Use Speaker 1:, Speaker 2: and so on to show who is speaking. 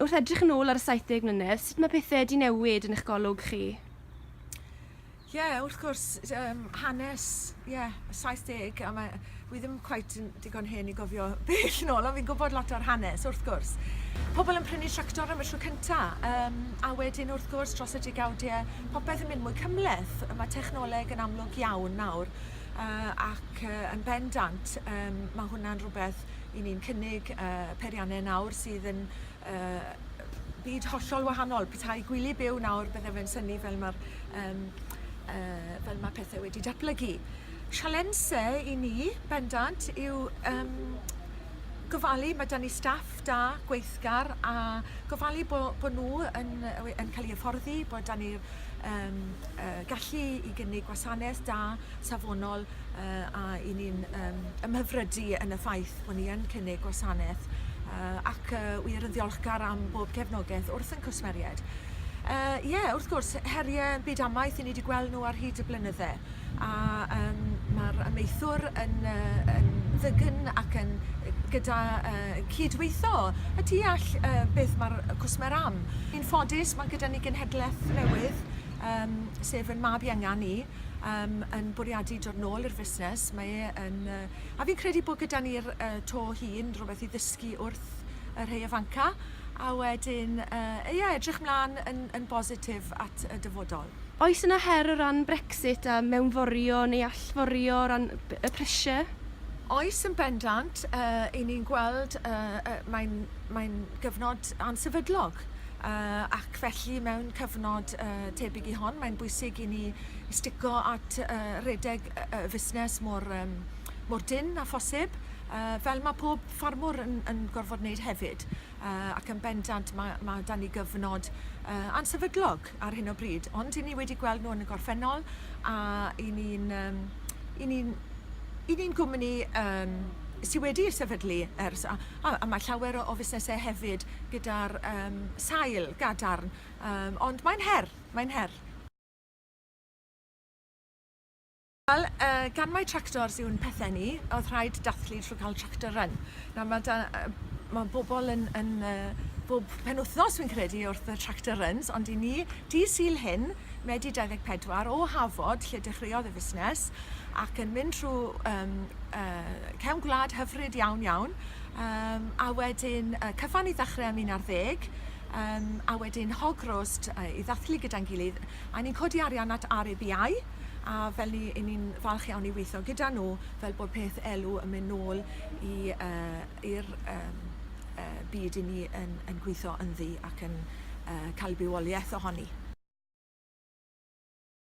Speaker 1: Wrth edrych yn ôl ar y 70 mlynedd, sut mae pethau wedi newid yn eich golwg chi? Ie, yeah,
Speaker 2: wrth gwrs, um, hanes, ie, yeah, 70, a mae, fi ddim cweit yn digon hen i gofio bell yn ôl, ond fi'n gwybod lot o'r hanes, wrth gwrs. Pobl yn prynu tractor am y tro cynta, um, a wedyn wrth gwrs dros y digawdiau, popeth yn mynd mwy cymleth. Mae technoleg yn amlwg iawn nawr, uh, ac uh, yn bendant, um, mae hwnna'n rhywbeth 'Y ni'n cynnig y peirianne nawr sydd yn yy byd hollol wahanol. Petai gwylio byw nawr bydde fe'n synnu fel ma'r yym yy fel ma' pethe wedi datblygu. Sialense i ni bendant yw yym gofalu ma' 'dan ni staff da, gweithgar a gofalu bo' bo' nw yn yy we- yn ca'l 'u hyfforddi bod 'dan ni'r yym yy gallu i gynnig gwasaneth da, safonol yy a 'yn ni'n yym ymhyfrydu yn y ffaith bo' ni yn cynnig gwasaneth yy ac yy wir yn ddiolchgar am bob cefnogeth wrth ein cwsmeriaid. Yy ie wrth gwrs herie byd amaeth 'yn ni 'di gweld nhw ar hyd y blynydde a yym ma'r amaethwr yn yy yn ddygn ac yn yy gyda yy cydweitho y tu all yy beth ma'r yy cwsmer am. Yn ffodus ma' gyda ni genhedleth newydd yym sef 'yn mab ienga ni. um, yn bwriadu dod nôl i'r fusnes. Mae e yn... Uh, a fi'n credu bod gyda ni'r uh, to hun rhywbeth i ddysgu wrth y rhai ifanca. A wedyn, uh, ie, yeah, edrych mlaen yn, yn bositif at y dyfodol. Oes yna her o
Speaker 1: ran Brexit a mewnforio neu allforio o ran y pressure? Oes yn
Speaker 2: bendant, uh, i ni'n gweld, uh, uh, mae'n mae gyfnod ansefydlog. Uh, ac felly mewn cyfnod uh, tebyg i hon, mae'n bwysig i ni stico at uh, redeg y uh, fusnes mor, um, mor dyn a phosib, uh, fel mae pob ffarmwr yn, yn gorfod wneud hefyd. Uh, ac yn bendant mae, mae dan ni gyfnod uh, ansefydlog ar hyn o bryd, ond i ni wedi gweld nhw yn y gorffennol a i ni'n um, i ni'n i ni'n gwmni um, sydd wedi sefydlu ers a, A, a mae llawer o, o fusnesau hefyd gyda'r um, sail gadarn, um, ond mae'n her, mae'n her. Wel, uh, gan mai tractors yw'n pethau ni, oedd rhaid dathlu trwy cael tractor run. Nawr mae, da, uh, mae bobl yn, yn uh, bob penwthnos fi'n credu wrth y tractor runs, ond i ni, di syl hyn, Medi 24 o Hafod lle dechreuodd y fusnes ac yn mynd trwy um, uh, cefn gwlad hyfryd iawn iawn um, a wedyn uh, cyfan i ddechrau am un ar ddeg um, a wedyn hog roast uh, i ddathlu gyda'n gilydd a ni'n codi arian at RABI a fel ni, i ni'n falch iawn i weithio gyda nhw fel bod peth elw yn mynd nôl i'r uh, um, uh, byd i ni yn, yn gweithio ynddi ac yn cael bywoliaeth ohoni.